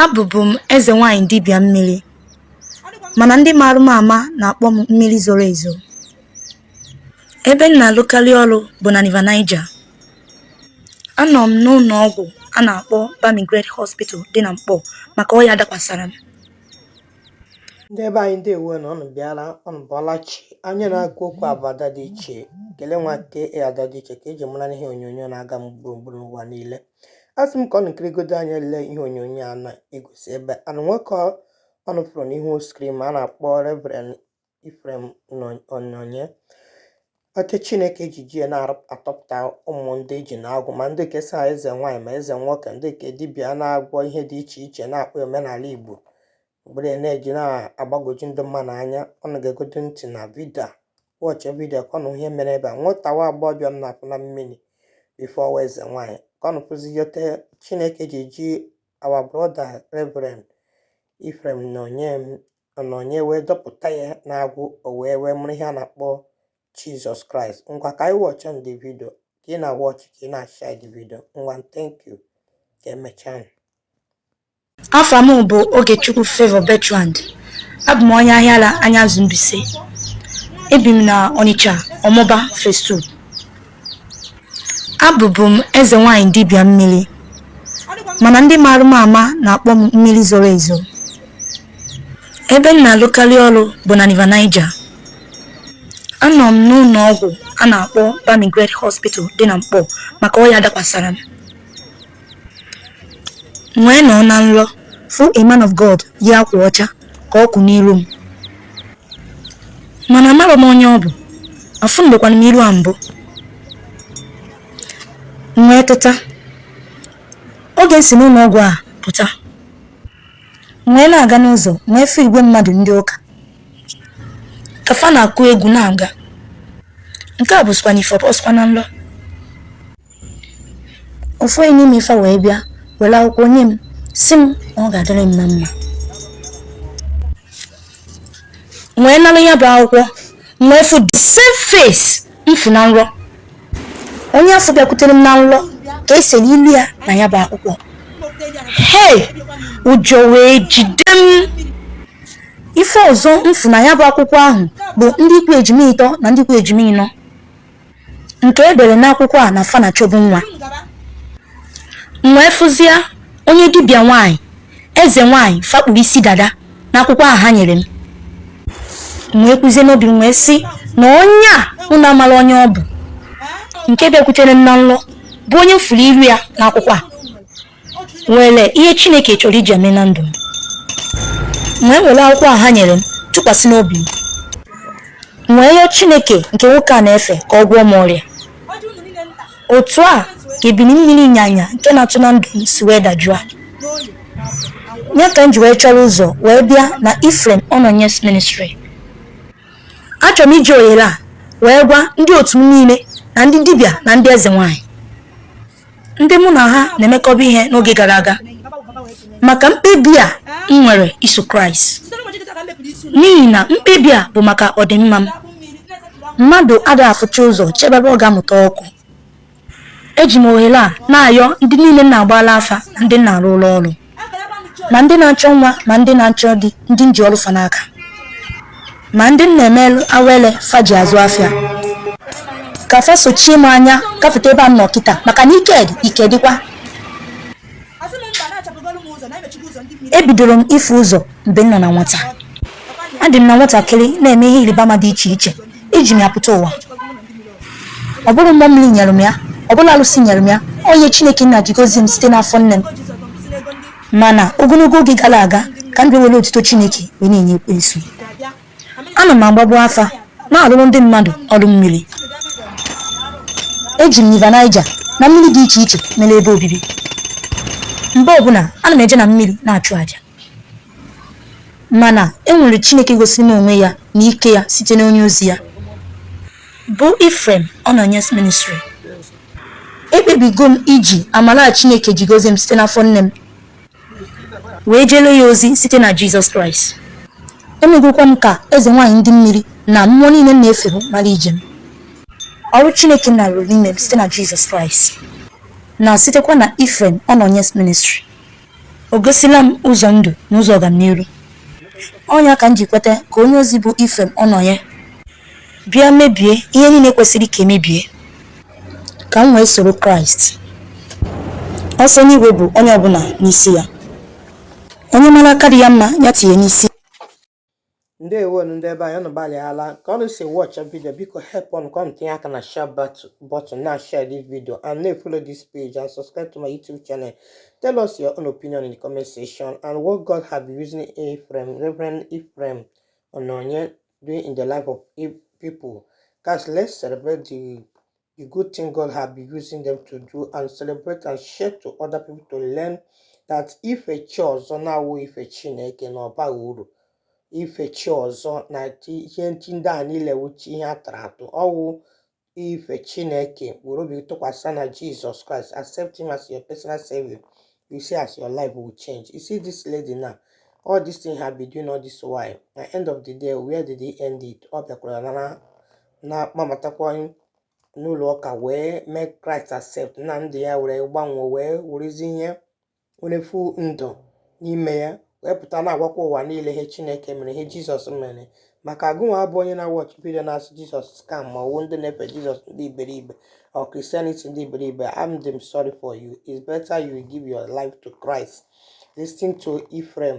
Abụbu m eze nwaanyị dibịa mmiri, mana ndị maara m ama na-akpọ m mmiri zoro ezo. Ebe m na-alụkarị ọrụ bụ na River Niger. Anọ m n'ụlọ ọgwụ a na-akpọ Bamigred Hospital dị na Nkpor maka ọya dakwasara m. ndị ebe anyị ndewo nụ ọnụ bịara ọnụ bọọla chi onye na-agwa okwu a bụ ada dị iche kele nwa ke e ada dị iche ka e ji mara m n'ihe onyonyo na-aga gburugburu n'ụwa niile asị m ka ọnụ kirigodo anya lee ihe onyonyo a na-egosi ebe ahụ nwoke ọnụ fụrụ n'ihu screen m a na-akpọ Reverend Ephraim Ononye nwoke Chineke ejiji ya na-atọpụta ụmụ ndị e ji n'agbụ ma ndị ke sị eze nwaanyị ma eze nwoke ndị ke dibịa na-agwọ ihe dị iche iche na-akpọ omenala Igbo mgbere na-eji na-agbagwoju ndị mmadụ anya ọnụ gegodo ntị na video a watch video ka ọnụ nụ ihe mere ebe a nwata nwa agbọghọbịa m na-apụ na mmiri before ọwa eze nwaanyị ka ọnụ fụzie otu chineke ji ji our brother reverend Ephraim Ononye wee dọpụta ya n'agbụ o wee wee marụ ihe a na-akpọ Jesus Christ ngwa ka anyị watch the video ka ị na-awatch ka ị na-ashare the video ngwa thank you ka emechaa Afa m bụ Ogechukwu Favour Bertrand. Abụ m onye Ahiara Ahiazu Mbaise. Ebi m na Onitsha, Omagba, Phase 2. Abụbu m eze nwanyị dibịa mmiri, mana ndị maara m ama na-akpọ m mmiri zoro ezo. Ebe m na-alụkarị ọrụ bụ na River Niger. Anọ m n'ụlọ ọgwụ a na-akpọ Bamigred Hospital dị na Nkpor maka ọya dakwasara m. M wee nọ na nlọ, fụ a man of God yi akwa ọcha ka ọ kwụ n'iru m. Mana amarọ m onye ọ bụ, afụnubekwana m iru a mbụ. M wee teta. Oge m si n'ụlọ ọgwụ a pụta, m wee na-aga n'ụzọ, m wee fụ igwe mmadụ ndị ụka. Ka fa na-akụ egwu na-aga. Nke a bụzikwa n'ife ọ bụrọzikwa na nlọ. ofu onye n'ime fa wee bịa were akwụkwọ nye m sị m na ọ ga-adịrị m na mma M wee nara ya bụ akwụkwọ m wee fụ the same face m fụ na nrọ onye afụ bịakwutere m na nrọ ka e sere ilu ya na ya bụ akwụkwọ hei ụjọ wee jide m ife ọzọ m fụ na ya bụ akwụkwọ ahụ bụ ndị ku ejima ịtọ na ndị ku ejima ịnọ nke e dere n'akwụkwọ a na fa na-achọbu nwa m wee fụzia onye dibịa nwanyị eze nwanyị fa kpuru isi dada n'akwụkwọ ahụ ha nyere m m wee kwuzie n'obi m wee sị na onye a m na-amarọ onye ọ bụ nke bịakwutere m na nlọ bụ onye m fụrụ iru ya n'akwụkwọ a nwere ihe chineke chọrọ iji eme na ndụ m wee were akwụkwọ a ha nyere m tụkwasị n'obi m wee yọọ chineke nke nwoke a na-efe ka ọ gwọọ m ọrịa otu a ka ebili mmiri ịnyanya nke na-atụ na ndụ m si wee dajụọ ọ ya ka m ji wee chọrọ ụzọ wee bịa na Ephraim Ononye's Ministry achọrọ m iji ohere a wee gwa ndị otu m niile na ndị dibịa na ndị eze nwanyị ndị mụ na ha na-emekọba ihe n'oge gara aga maka mkpebi a m nwere iso kraịst n'ihi na mkpebi a bụ maka ọdịmma m mmadụ adịghị afụcha ụzọ chebe ebe ọ ga-amụta ọkụ eji m ohere a na-ayọ ndị niile m na-agbalụ afa na ndị m na-arụlụ ọrụ ma ndị na-achọ nwa ma ndị na-achọ di ndị m ji ọrụ fa n'aka ma ndị m na-emelụ awele fa ji azụ afịa ka fa sochie m anya gafeta ebe a m nọ kịta maka na ike dị ike dịkwa ebidoro m ịfụ ụzọ mgbe m nọ na nwata adị m na nwatakịrị na-eme ihe ịrịba ama dị iche iche eji m ya pụta ụwa ọ bụrọ mmụọ mmiri nyere m ya ọ bụrọ alụsị nyere m ya onyinye chineke nna ji gozie m site n'afọ nne m mana ogologo oge gara aga ka m bịa were otuto chineke wee na-enye ekwensu ana m agbagbu afa na-arụrụ ndị mmadụ ọrụ mmiri eji m river Niger na mmiri dị iche iche mere ebe obibi mgbe ọbụla ana m eje na mmiri na-achụ aja Mana e nwere Chineke gosiri m onwe ya na ike ya site n'onye ozi ya bụ Ephraim Ononye's Ministry. Ekpebigo m iji amara a Chineke ji gozie m site n'afọ nne m wee jere ya ozi site na Jizọs Kraịst. Emegokwa m ka eze nwaanyị ndị mmiri na mmụọ niile m na-efebu mara ije m. Ọrụ Chineke Nna rụrụ n'ime m site na Jizọs Kraịst na sitekwa na Ephraim Ononye's Ministry. o gosila m ụzọ ndụ na ụzọ ọganiru ọ nya ka m ji kweta ka onye ozi bụ Ephraim Ononye bịa mebie ihe niile kwesịrị ka emebie ka m wee soro Kraịst ọsọ enigwe bụ onye ọbụla n'isi ya onye mara aka dị ya mma ya tinye n'isi ndewonu ndị ebe anyị unu gbalịala ka unu si watcha video biko helpụnụ ka unu tinye aka na share button na share this video and na-follow this page and subscribe to my youtube channel tell us your own opinion in the comment section and what god have been using Ephraim Reverend Ephraim Ononye doing in the life of people guys let's celebrate the The good thing God have been using them to do and celebrate and share to other people to learn that ife chi ọzọ na-awụ ife Chineke na ọ bahụ uru ife chi ọzọ na ihe chi ndị a niile wụcha ihe a tụrụ atụ ọ wụ ife Chineke were obi tụkwasị na Jesus Christ accept him as your personal savior you see as your life will change you see this lady now all this thing have been doing all this while at the end of the day where did he end it ọ bịakwara nara na-akpọbatakwa anyị n'ụlọ ụka wee mee kraịst accept na ndụ ya were gbanwee wee werezi ihe were fu ndụ n'ime ya wee pụta na-agwakwa ụwa niile ihe chineke mere ihe jizọs mere maka gịnwa bụ onye na-awatch video na-asị jizọs scam ma ọ wụ ndị na-efe jizọs ndị iberibe or christianity ndị iberibe I'm damn sorry for you it's better you give your life to christ listen to Ephraim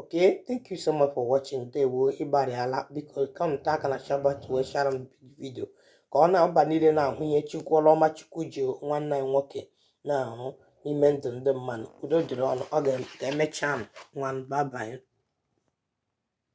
okay thank you so much for watching ndewo ị gbalịala biko ka m taa aka na share button wee shara m video ka ọ na-aba niile na-ahụ ihe chukwu ọlụ ọma chukwu ji nwanne anyị nwoke na-arụ n'ime ndụ ndị mmadụ udo dịrị unu ọ ga-emecha m nwa bye bye